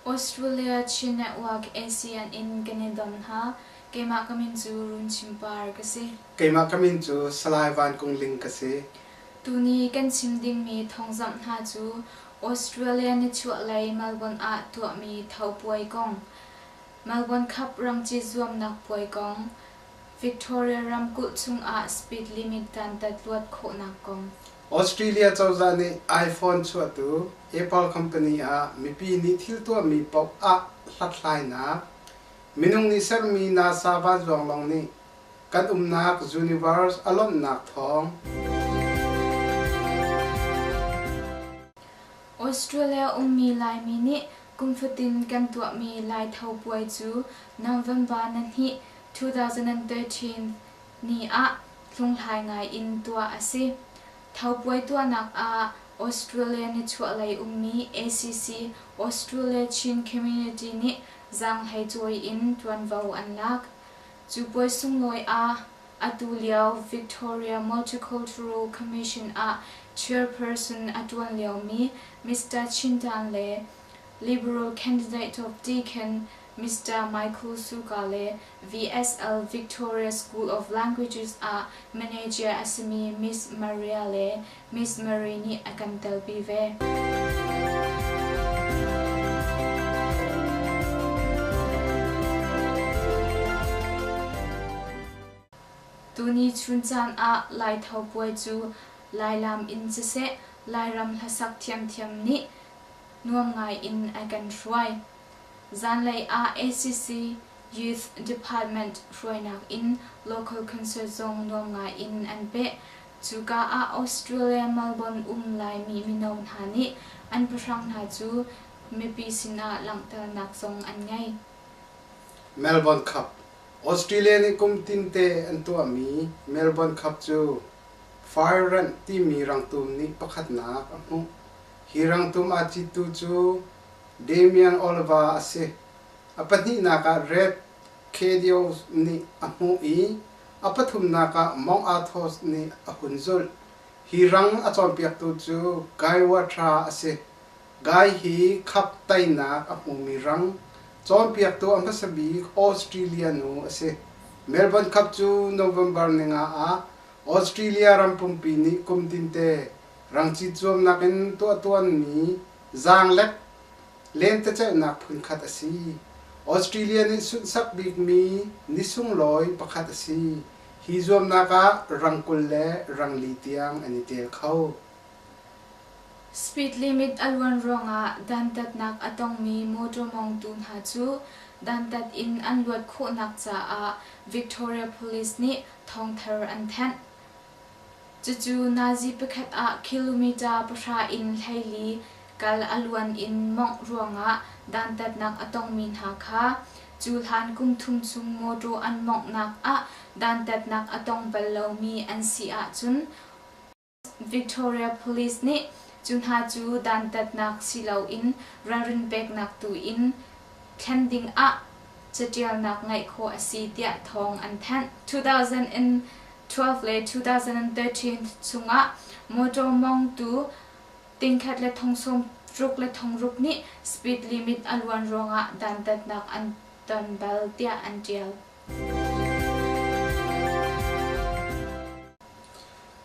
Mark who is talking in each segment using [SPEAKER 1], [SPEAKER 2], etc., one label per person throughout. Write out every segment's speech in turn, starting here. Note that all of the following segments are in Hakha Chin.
[SPEAKER 1] Australia Chin Network ASEAN in kan i dom hna. Keimah ka min cu Runchim Par ka si. Keimah ka min cu Salai Van Kung Ling ka si. Tuni kan chim dingmi thawngzamh hna cu Australia nichuahlei Melbourne ah tuahmi tho puai kong, Melbourne Cup rangcit zuamnak puai kong, Victoria ramkulh chungah speed limit dantat luat khawhnak kong, Australia cozah nih iPhone chuahtu Apple company ah mipi nih thil tuahmi paoh ah hlathlainak, minung nih sermi NASA vanzuang lawng nih kan umnak universe a lawmhnak thawng. Australia ummi Laimi nih kum fatin kan tuahmi Lai Tho puai cu November ni hnih, 2013 ni ah hlunghlai ngai in tuah a si. Thopuai tuahnak ah Australia nichuahlei ummi ACC Australia Chin Community nih zaanghlei cawi in ṭuanvo an lak. Cu puai sunglawi ah atu lio Victoria Multicultural Commission ah chairperson a ṭuan liomi Mister Chin Dan le Liberal candidate Top Deacon Mister Michael Suka le VSL Victoria School of Languages ah manager a simi Miss Maria le Miss Mary nih a kan telpi ve. Tuni chun caan ah Laitho puai cu Lailam in siseh, Lairam hlasak thiamthiam nih nuam ngai in a kan hruai. Zanlei ah ACC Youth Department hruainak in local concert zong nuam ngai in an peh. Cuka ah Australia Melbourne um Laimi mino hna nih an pahrang hna cu mipi sinah langhternak zong an ngei. Melbourne Cup, Australia nih kum tinte an tuahmi Melbourne Cup cu Fire Ranh timi rangtum nih pakhatnak a hmuh. Hi rangtum aa cittu cu Damian Olva a si. A pahnihnak ah Red Khedios nih a hmuh i a pathumnak ah Mong Athos nih a hun zulh. Hi rang a cawnpiaktu cu Guy Watra a si. Guy hi khap tainak a hmumi rang cawnpiaktu a hmasa bik Australia nu a si. Melbourne Cup cu November ni nga ah Australia ram pumpi nih kum tinte rang cit zuamnak in tuahtuanmi Zaanglek lentecelhnak phunkhat a si. Australia nih sunhsak bikmi ni sunglawi pakhat a si. Hi zuamnak ah rang kul le rang li tiang an i tel kho. Speed limit a luan ruangah dantatnak a tongmi motor mawngtu hna cu dantat in an luat khawhnak caah Victoria Police nih thawngthar an thenh. Cucu Nazi pakhat ah kilometre pahra in hleili kal a luan in mawngh ruangah dantatnak a tongmi hna kha cuhlan kum thum chung mawṭaw an mawnghnak ah dantatnak a tong bal lomi an si ahcun Victoria Police nih cu hna cu dantatnak si loin ralrin peknak tu in thlen dingah caṭialnak ngeih khawh a si tiah thawng an thanh. 12 le 2013 chungah motor mawngtu tingkhat le thong sawm ruk le thong ruk nih speed limit a luan ruangah dantatnak an ton bal tiah an ṭial.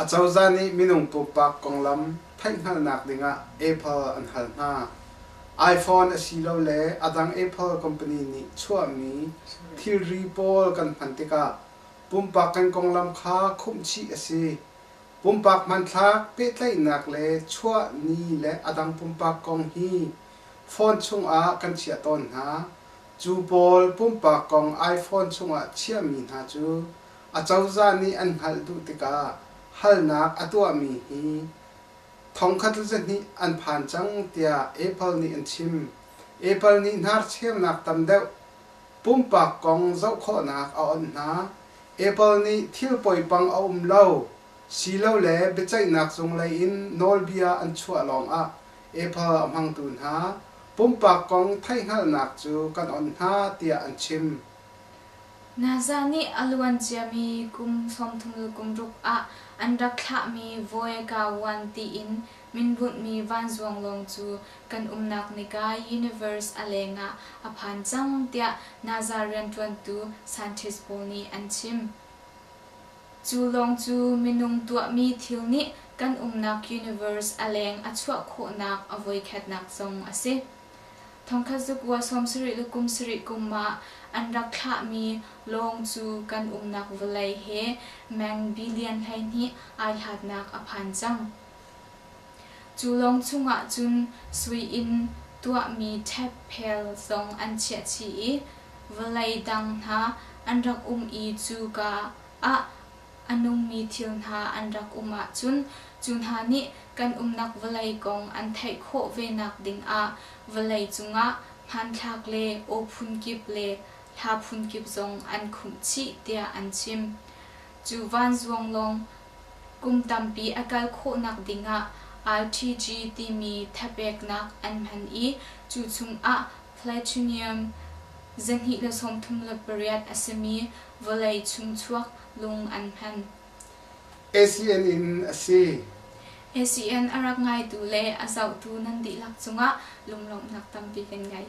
[SPEAKER 1] A cozah nih minung pumpak konglam theihhngalhnak dingah Apple an hal hna. iPhone asilole a dang Apple company nih chuahmi thilri pawl kan hman tikah Pumpak kan konglam kha khumhchih a si. Pumpak hmanthlak, pehtlaihnak le chuah ni le a dang pumpak kong hi phone chungah kan chiah tawn hna. Cu pawl pumpak kong iphone chungah chiahmi hna cu acozah nih an hngalh duh tikah halnak a tuahmi hi thongkhat le zahnih an phan cang tiah Apple nih an chim. Apple nih hnarcheunak tam deuh Pumpak kong zoh khawhnak a awnh hna. Apple nih thil poipang a um lo silole biaceihnak zung lei in nawlbia an chuah lawngah Apple a hmangtu hna pumpak kong theihhngalhnak cu kan awnh hna tiah an chim. Nazah nih a luanciami kum thongthum kum ruk ah an rak thlahmi Voyka One tiin min bunhmi vanzuang lawng cu kan umnak nikai universe a leng ah a phan cang tiah Nazar rianṭuantu scientist pawl nih an chim. Cu lawng cu minung tuahmi thil nih kan umnak universe a leng a chuah khawhnak a voikhatnak zong a si. Thongkhat zakua sawmsarih le kumsarih kum ah an rak thlahmi lawng cu kan umnak vawlei he meng billion hleihnih ai hlatnak a phan cang. Cu lawng chungah cun sui in tuahmi ṭhepphel zong an chiah chih i vawlei dang hna an rak um i cuka ah a nungmi thil hna an rak um ahcun cu hna nih kan umnak vawlei kong an theih khawh ve nakding ah vawlei cungah hmanthlak le aw phunkip le hla phunkip zong an khumh chih tiah an chim. Cu vanzuang lawng Kum tampi a kal khawhnak dingah RTG timi thapeknak an hman i cu chungah plutonium zahnih le sawmthum le pariat a simi vawlei chung chuak lung an hman. ACN in a si. ACN a rak ngaitu le a zohtu nan dihlak cungah lunglawmhnak tampi kan ngei.